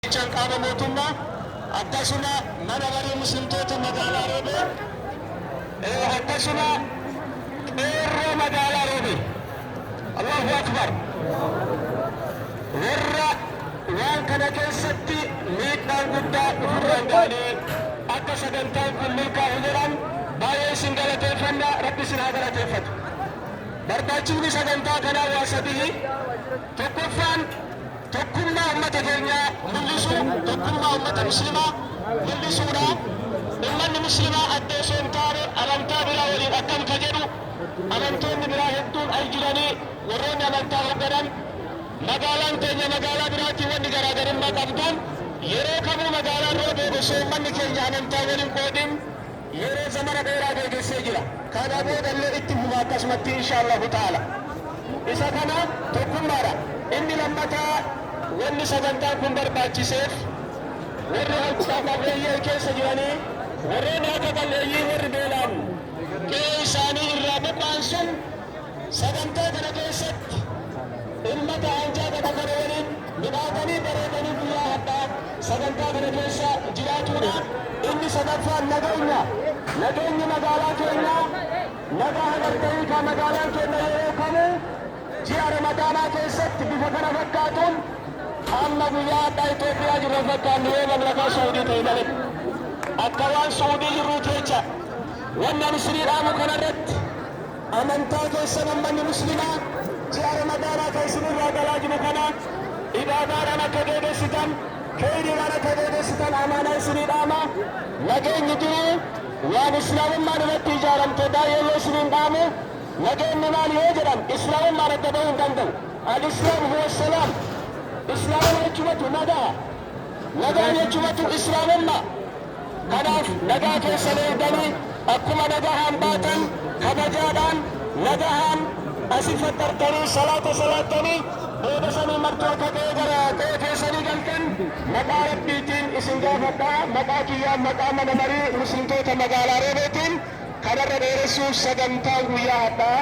Bulchaan qaama mootummaa akkasuma mana maree muslimtoota magaalaa Roobee eh, akkasuma qeerroo magaalaa Roobee Allahu Akbar warra waan kana keessatti miidhaan guddaa ofirraan ga'anii akka sagantaan kun milkaa'u jedhan baay'ee isin galateeffanna rabbi isin haa galateeffatu barbaachifni sagantaa kanaa waa sadii Tokkoffaan tokkummaa ummata keenyaa mul'isuu, tokkummaa ummata muslimaa mul'isuudha. Ummanni muslimaa adda osoo hin taane amantaa biraa waliin akkam ka jedhu amantoonni biraa hedduun al jiranii warroonni amantaa hogganan magaalaan teenya magaalaa biraatii wanni garaagarummaa qabduun yeroo kamuu magaalaan roobee osoo ummanni keenya amantaan wal hin qoodin Yeroo zamana dheeraa geegessee jira. Kana booda illee itti fufa akkasumatti inshaallahu ta'aala. Isa kana tokkummaadha. Inni lammataa wanni sagantaan kun barbaachiseef warri harka qal'eeyyan keessa jiranii warroonni harka qal'eeyyii warri beelaan qe'ee isaanii irraa buqqa'an sun Sagantaa kana keessatti ummata aanjaa qabu kana waliin midhaatanii bareedanii guyyaa hadhaa sagantaa kana keessa jiraatuudha. Inni sadaffaan nageenya. Nageenyi magaalaa keenya nagaa hagartanii kaa magaalaan keenya yeroo kamuu ji'a ramadaanaa keessatti bifa kana fakkaatuun amma guyyaa hadhaa Itoophiyaa jirra fakkaannu yoo mamlakaa Suudii ta'e malee akka waan Suudii jirruuti jecha. Wanni ani isinii dhaamu kanarratti Amantaa keessan ummanni muslimaa ji'a ramadaanaa ka isin irraa galaa jiru kana ibaadaadhaan akka geegessitan keeyriidhaan akka geegessitan amaanaa isinii dhaama nageenyi duruu waan islaamummaan irratti ijaaramte baay'eellee isiniin dhaamu nageenni maali yoo jedhan islaamummaan adda bahuu hin danda'u alislaam huwa salaam islaamuma jechumatu nagaa nagaan jechumatu islaamummaa Kanaaf nagaa keessan eegdanii akkuma nagahaan baatan kabajaadhaan nagahaan asi faxxartanii salaata salaattanii booda sanii martuu akka qe'ee gara qe'ee keessanii galtan maqaa Rabbiitiin isin gaafadha. Maqaa kiyyaan maqaa mana marii Muslimtoota magaalaa Roobeetiin kanarra dheeressuuf sagantaan guyyaa hadhaa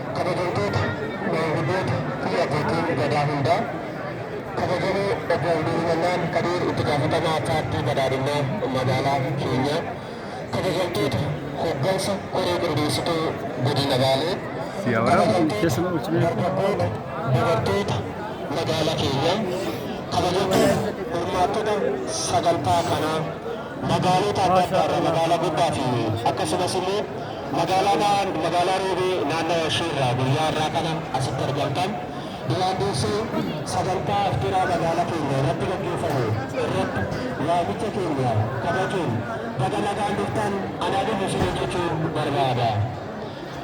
Kabajamtoota maanguddoota fi abbootiin Gadaa hundaa, Kabajamoo Obbo Abdurrahmannaan Kadiir Itti Gaafatamaa Paartii Badhaadhinnaa Magaalaa keenyaa, Kabajamtoota Hoggansa Koree Qindeessituu Godina Baalee, Kabajamtoota Dargaggoota, Dubartoota Magaala keenyaa, Kabajamtoota Hirmaattota Sagantaa kanaa. Magaalota adda addaa irraa magaalaa Gobbaa fi akkasumas immoo magaalaa Roobee naannawa ishee irraa guyyaa har'aa kana asitti argamtan duraan dursee sagantaa afxiraa magaalaa keenya irratti gaggeeffamu irratti waamicha keenya kabajuun baga nagaan dhuftan anaa dhufu isinii jechuu barbaada.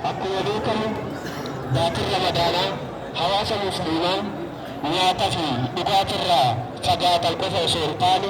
Akkuma beekamu baatiin Ramadaanaa hawaasa Musliimaa nyaata fi dhugaatirraa fagaatan qofa osoo hin taane